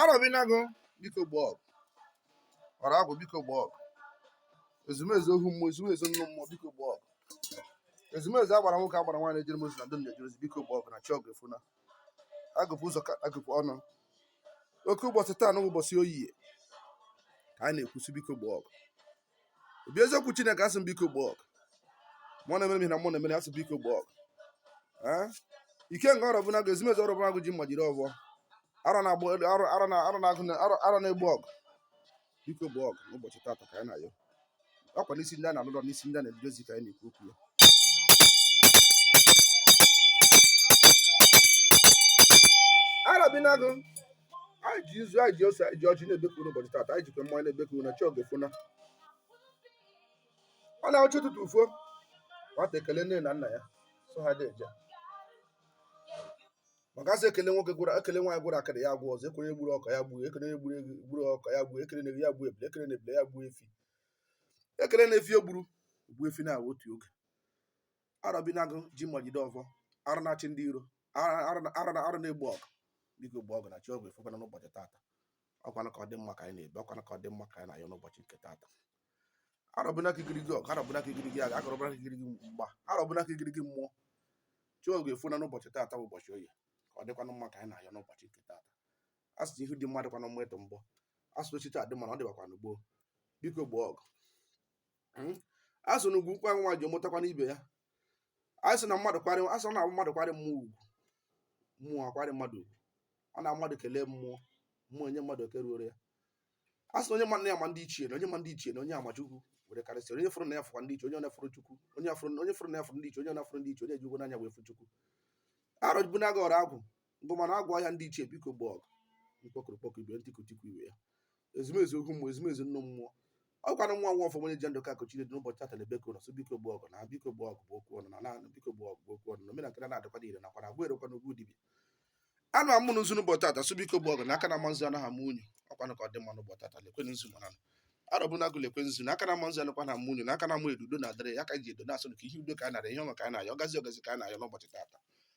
arọbinagụ biko gboo ọgụ ọra agwụ biko gboo ọgụ ezumezu ohu mmụọ ezumezu nnụ mmụọ biko gboo ọgụ ezumezu agbara nwoke agbara nwaanyị na-ejere m ozi na ndị m na-ejere ozi biko gboo ọgụ na chi ọgụ efuna agụpụ ụzọ ka agụpụ ọnụ oke ụbọchị taanụ bụ ụbọchị oye ka m na-ekwu sị biko gboo ọgụ obi eziokwu chineke a sị biko gboo ọgụ mmụọ na-emere m ihe na mụ na-emere a sị biko gboo ọgụ Ee? ikenga arọbụnagụ ezumezu arọbụnagụ ji mma jiri ọbọ arọ na-agba arọ arọ na arọ na-agụ na arọ arọ na-egbo ọgụ biko gboo ọgụ n'ụbọchị taata ka anyị na-ayọ akwa n'isi ndị a na-alụrọ n'isi ndị a na-edozi ka anyị na-ekwu okwu ya arọbinagụ anyị ji nzu anyị ji ose anyị ji ọjị na-ebekwu n'ụbọchị taata anyị jikwa mmanya na-ebekwu na chi ọgụ efuna ọ na chi ụtụtụ fo nwata ekele nne na nna ya sị ha deeje maka a sị ekele nwoke gworo ekele nwaanyị gworo akịdị ya egwo ọzọ ekele gburu ọka ya gbuo ekele onye gburu eghu gburu ọka ya gbuo ekele na-ebi ya gbuo ebule ekele na ebule ya gbuo efi ekele na efi o gburu gbuo efi na otu oge arọbinagụ ji mma jide ọfọ arọ na-achị ndị iro arọ na- arọ na- arọ na-egbo ọgụ biko gboo ọgụ na chi ọgụ efukwana n'ụbọchị tata ọkwanụ ka ọ dị mma ka anyị na-ebe ọkwanụ ka ọ dị mma ka anyị na-ayọ n'ụbọchị nke taata arọbụna ka igirigi ọgụ arọbụna ka igirigi agha arọbụna ka igirigi mgba arọbụna ka igirigi mmụọ chi ọgụ efuna n'ụbọchị taata bụ ụbọchị oye ka ọ dịkwanụ mma ka anyị na-ayọ n'ụbọchị nke taata a sị na ihu dị mma dịkwanụ mma ịtụ mbọ a sị na echiche adị mma na ọ dịbakwanụ gboo biko gboo ọgụ hmm? a sị na ugwu nkwa nwaanyị mụtakwanụ ibe ya a sị na mmadụ kwarị a sị na mmadụ kwarị mmụọ ugwu mmụọ akwarị mmadụ ugwu ọ na mmadụ kelee mmụọ mmụọ enye mmadụ oke ruuru ya a sị na onye ma nna ya ma ndị ichie na onye ma ndị ichie na onye a ma chukwu were karịsịa onye fụrụ nna ya fụkwa ndị ichie onye ọ na-afụrụ chukwu onye fụrụ nna ya fụrụ ndị ichie onye ọ na-afụrụ ndị ichie onye ji ugwu n'anya wee fụ chukwu arọbụnagụ ọra agwụ ngụmara agwụ ọha ndị ichie biko gboo ọgụ mkpokuru kpoku ibe ntiku tiku ibe ya ezumezu ohu mmụọ ezumezu nnụ mmụọ ọ gwara nwa nwa ọfọm onye ji ndụ ka akụ Chinedu n'ụbọchị tata na-ebeku unu sị biko gboo ọgụ na biko gboo ọgụ bụ okwu ọnụ na naanị biko gboo ọgụ bụ okwu ọnụ na omenakịra na-adịkwa niile nakwa na agwa erokwa n'ugwu dibịa anụ amụ n'ụzụ n'ụbọchị tata sị biko gboo ọgụ na aka na-ama nzu anaghị ama unyi ọkwanụ ka ọ dị mma n'ụbọchị tata lekwe nzu maranụ arọbụnagụ lekwe nzu na aka na-ama nzu anọkwanụ ama unyi na aka na-ama edo udo na-adịrị ya ka ji edo na-asụ ka ihe udo ka a na-ayọ ihe ọma ka a na-ayọ ọgazi ọgazi ka a na-ayọ n'ụbọchị tata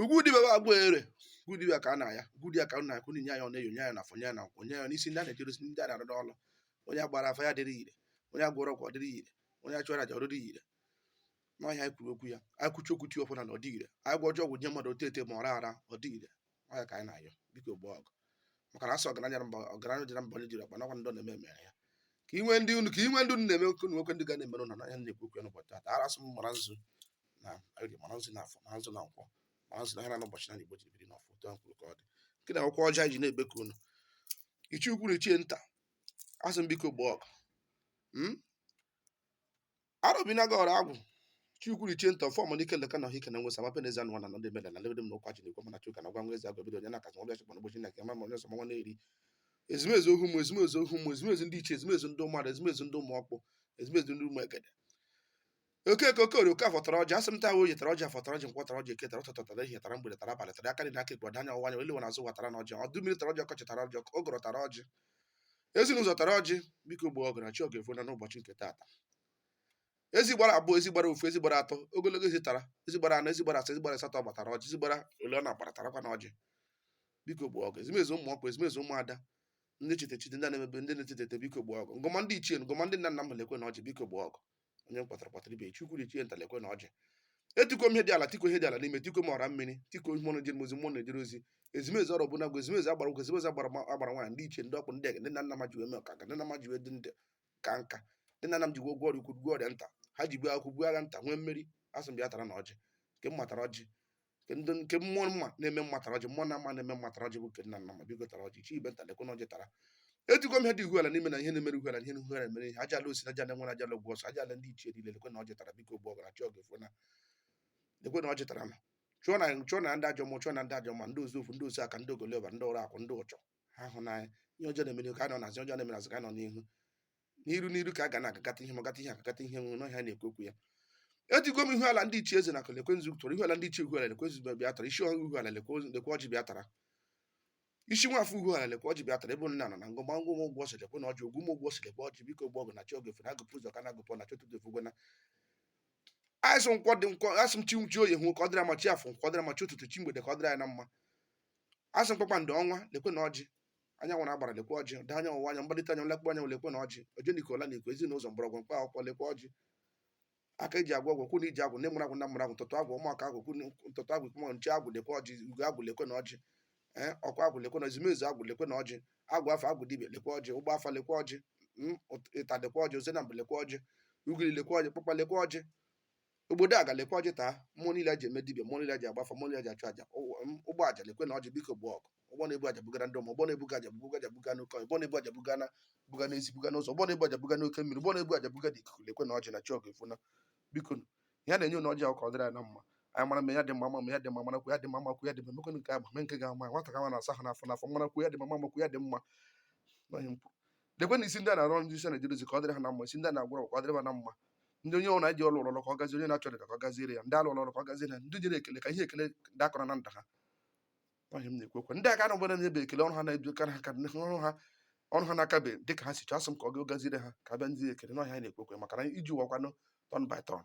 Ugwu dibịa bụ ọgwụ ere ugwu dibịa ka a na-ayọ ugwu dibịa ka na eke nye ya na oye nye ya na afọ nye ya na nkwọ nye ya n'isi ndị a na-ejere ozi ndị a na-arụ n'ọrụ onye agbara afa ya dịrị ire onye agwọrọ ọgwụ ọ dịrị ire onye achụrụ aja ọ dịrị ire na ihe anyị kwuru okwu ya anyị kwuchi okwu ti ọfụna na ọ dị ire anyị gwọọ ajọ ọgwụ nye mmadụ ote ete ma ọ ra ara ọ dị ire ọ ya ka anyị na-ayọ biko gbuo ọgụ maka na asọ ọgaranya mba ọgaranya dị na mba onye jiri ọkpa nakwa ndị na-eme emere ya ka e nwee ndị unu ka e nwee ndị unu na-eme oke nwekwe ndị ga na-emere unu na anyị na-ekwu okwu n'ụbọchị taa ara asụ mara nzu na orie mara nzu na afọ mara nzu na nkwọ mara nzu na ha na n'ụbọchị na Igbo jiri biri n'ọfọ otu ahụ kwuru ka ọ dị nke na akwụkwọ ọja ji na-ebeku unu ichie ukwu na ichie nta asị m biko gbuo ọgụ hmm? Arobina gọrọ agwụ ichie ukwu na ichie nta ọfọ m n'ike leka na ọhịa na nwesa mape n'ezi anụ na ndị meda na lebe na ụkwa ji na-ekwe mana chuka na gwa nwa ezi agwa bido onye na-akazi ọbịa chekwa n'ụbọchị na nke mama onye ọsọ nwa na-eri ezumezu ohu mmụọ ezumezu ohu mmụọ ezumezu ndị ichie ezumezu ndị ụmụada ezumezu ndị ụmụ ọkpụ ezumezu ndị ụmụ egede okeke okorie okafọ tara ọjị asị m taa oye tara ọjị afọ tara ọjị nkwọ tara ọjị eke tara ụtụtụ tara ehihie tara mgbede tara abalị tara aka nri na aka ekpe ọdanya ọwanya oliwe na azụ watara na ọjị udu mmiri tara ọjị ọkọchị tara ọjị ọkụ ụgụrụ tara ọjị ezi na ụzọ tara ọjị biko gbuo ọgụ na chi ọgụ efuna n'ụbọchị nke taata ezi gbara abụọ ezi gbara ofu ezi gbara atọ ogologo ezi tara ezi gbara anọ ezi gbara asaa ezi gbara asatọ bịa tara ọjị ezi gbara ole ọ na-agbara tarakwanụ ọjị biko gbuo ọgụ ezumezu ụmụ ọkpụ ezumezu ụmụada ndị chete chete ndị na-emebe ndị na-etete ete biko gbuo ọgụ ngọma ndị ichie ngọma ndị nna nna m lekwenụ ọjị biko gbuo ọgụ onye m kpọtara kpọtara ibe ichie ukwu na ichie nta lekwenụ ọjị etikuo m ihe dị ala tikuo ihe dị ala n'ime tikuo m ọra mmiri tikuo ihe mmụọ na-ejere ozi mmụọ na-ejere ozi ezumezu ọrụ ọbụla gwa ezumezu agbara ụgwọ ezumezu agbara ma- agbara nwaanyị ndị ichie ndị ọkpụ ndị ege ndị nna nna m ha ji wee mee ọka ndị nna m ha ji wee dị ndụ kaa nka ndị nna nna m ji gwọ ọrịa ukwu gwọ ọrịa nta ha ji buo agha ukwu buo agha nta nwee mmeri asị m bịa taranụ ọjị nke m ma tara ọjị nke mmụọ mma na-eme mma tara ọjị mmụọ na mma na-eme mma tara ọjị bụ nke nna nna ma biko tara ọjị ichie nta lekwenụ ọjị tara ejigo m ihe dị ihuala n'ime na ihe na-emere ihuala ihe ihuala mere ihe aja ala osi aja ala nwere aja ala ọsọ aja ala ndị ichie niile lekwenụ ọjị tara biko gbuo ọgụ na chi ọgụ efuna lekwenụ ọjị taranụ chụọnụ chụọnụ ndị ajọ mmụọ chụọnụ ndị ajọ mma ndị ozu ofu ndị ozu aka ndị ogoloba ndị ọrụ akwụ ndị ụchọ ha hụ n'anya ihe ọjọọ na-emere ka a nọ n'azụ ọjọọ na-emere azụ ka a nọ n'ihu n'iru n'iru ka a ga na-agakata ihe magata ihe agakata ihe nwere na ihe a na-ekwu okwu ya ejigo m ihu ala ndị ichie eze na akụ lekwe nzu tụrụ ihu ala ndị ichie uhu ala lekwe nzu bịa tara isi ọhụrụ uhu ala lekwe ozu- lekwe ọjị bịa tara isi nwafọ uhu ala lekwe ọjị bịa tara ebe nna nọ na ngọ gba ngwa ụgwọ ọsọ lekwenụ ọjị ogwu m ụgwọ ọsọ lekwe ọjị biko gbuo ọgụ na chi ọgụ efuna agụpụ ụzọ ka na agụpụ na chọtụ dofe gwena asị nkwọ dị nkwọ asị m chi chi oye ahụ ka ọ dịrị anyị mma chi afọ nkwọ dịrị anyị mma chi ụtụtụ chi mgbede ka ọ dịrị anyị na mma asị m kpakpando ọnwa lekwenụ ọjị anyanwụ na agbara lekwa ọjị daa anyanwụ ụwa anya mgbalite anya lekwa anyanwụ lekwenụ ọjị oje n'ike ọla n'ike ezi na ụzọ mgbọrọgwụ mkpa akwụkwọ lekwa ọjị aka eji agwọ ọgwụ kwụ na iji agwụ na emụrụ agwụ na mụrụ agwụ ntụtụ agwụ ụmụaka agwụ kwụ na ntụtụ agwụ kwụ nche agwụ lekwa ọjị ugo agwụ lekwenụ ọjị ee ọkwa agwụ lekwenụ ezumezu agwụ lekwenụ ọjị agwụ afa agwụ dibịa lekwa ọjị ụgba afa lekwa ọjị mm, ụt- ịta lekwa ọjị ozenambụ lekwa ọjị ugiri lekwa ọjị kpakpa lekwa ọjị obodo a ga lekwa ọjị taa mmụọ niile a ji eme dibia mmụọ niile a ji agba afa mmụọ niile a ji achụ aja ụwa- m, ụgbọ aja lekwenụ ọjị biko gboo ọgụ ụgbọ na-ebu aja bugara ndị mmụọ ụgbọ na-ebuga aja buga aja buga n'oke ọhịa, ụgbọ na-ebu aja buga na buga n'ezi buga n'ụzọ ụgbọ na-ebu aja buga n'oke mmiri ụgbọ na-ebu aja buga n'ikuku lekwenụ ọjị na chi ọgụ efuna biko nụ, ihe a na-enye ụnụ ọjị ahụ ka ọ dịrị anyị na mma anyị mara mma ya dị mma mma ya dị mma marakwu ya dị mma makwu ya dị mma emekwenụ nke agba mee nke ga-ama nwata ka nwa na-asa ahụ n'afọ n'afọ marakwu ya dị mma mamakwu ya dị mma n'ọhịa m kwuru lekwe na isi ndị a na-arụ ọrụ ndị isi na-eje dozi ka ọ dịrị ha na mma isi ndị a na-agwọrọ ka ọ dịrị ha na mma ndị onye ọrụ na-eji ọrụ ọrụ ka ọ gazie onye na-achọ dịda ka ọ gaziere ya ndị alụ ọrụ ka ọ gaziere ya ndị jere ekele ka ihe ekele ndị akọrọ na nda ha ihe m na-ekwekwe ndị aka na-agbara na ebe ekele ọrụ ha na-ebi ka ha ka ọrụ ha ọrụ ha na-akabe dị ka ha si chọọ asị m ka ọ ga gaziere ha ka abịa ndị ekele na ọ ihe anyị na-ekwekwe maka na ije ụwa kwanụ turn by turn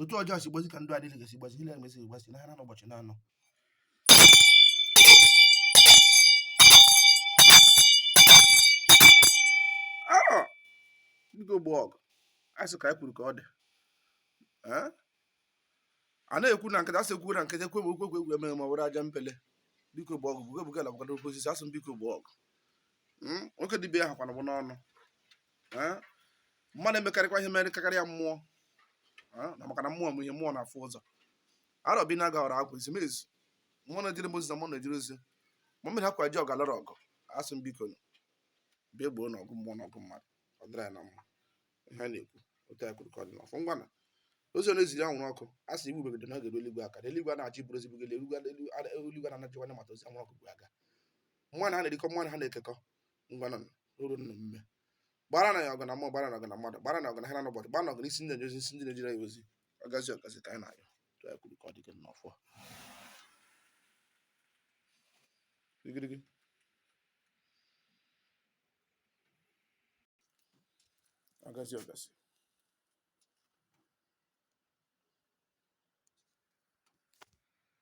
otu ọjọọ si gbazi ka ndụ adịghị gasi gbazi ile emesi gbazi n'ahịa na ụbọchị na-anọ biko gba ọgụ asị ka anyị kwuru ka ọ dị a na-ekwu na nkịta asị ekwu na nkịta ekwe m okwe egwu emeghe ma were aja mpele biko gba ọgụ buga buga lagbagara oke osisi asị m biko gba ọgụ nwoke dibịa ahụ kwana bụ n'ọnụ mmadụ emekarịkwa ihe mere kakarị ya mmụọ na maka na mmụọ m ihe mmụọ na-afụ ụzọ arọbinagụ ọra agwụ ezumezu mmụọ na-ejere m ozi na mmụọ na-ejere ozi ma mmiri akwa ji ọga lọrọ ọgụ asị m biko bịa gboonụ ọgụ mmụọ na ọgụ mmadụ ọ dịra ya na mma ihe a na-ekwu otu ya kwuru ka ọ dị n'ọfọ ngwanụ ozi a na-eziri anwụrụ ọkụ a sị igbu begodo na ọ ga-eru eluigwe aka eluigwe a na-achị bụrụ ezigbo gele eluigwe na ana jikwanụ mata ozi anwụrụ ọkụ bụ aga mụ na ha na-erikọ mụ na ha na-ekekọ ngwanụ nọrọ nna mme gbara anyị ọgụ na mmụọ gbara anyị ọgụ na mmadụ gbara anyị ọgụ n'ahịa na n'ụbọchị gbara anyị ọgụ na isi ndị na-eji isi ndị na-ejere anyị ozi ọ gazie ọ gazie ka anyị na-ayọ otu e kwuru ka ọ dị gị n'ọfọ gịgịrịgị ọ gazie ọ gazie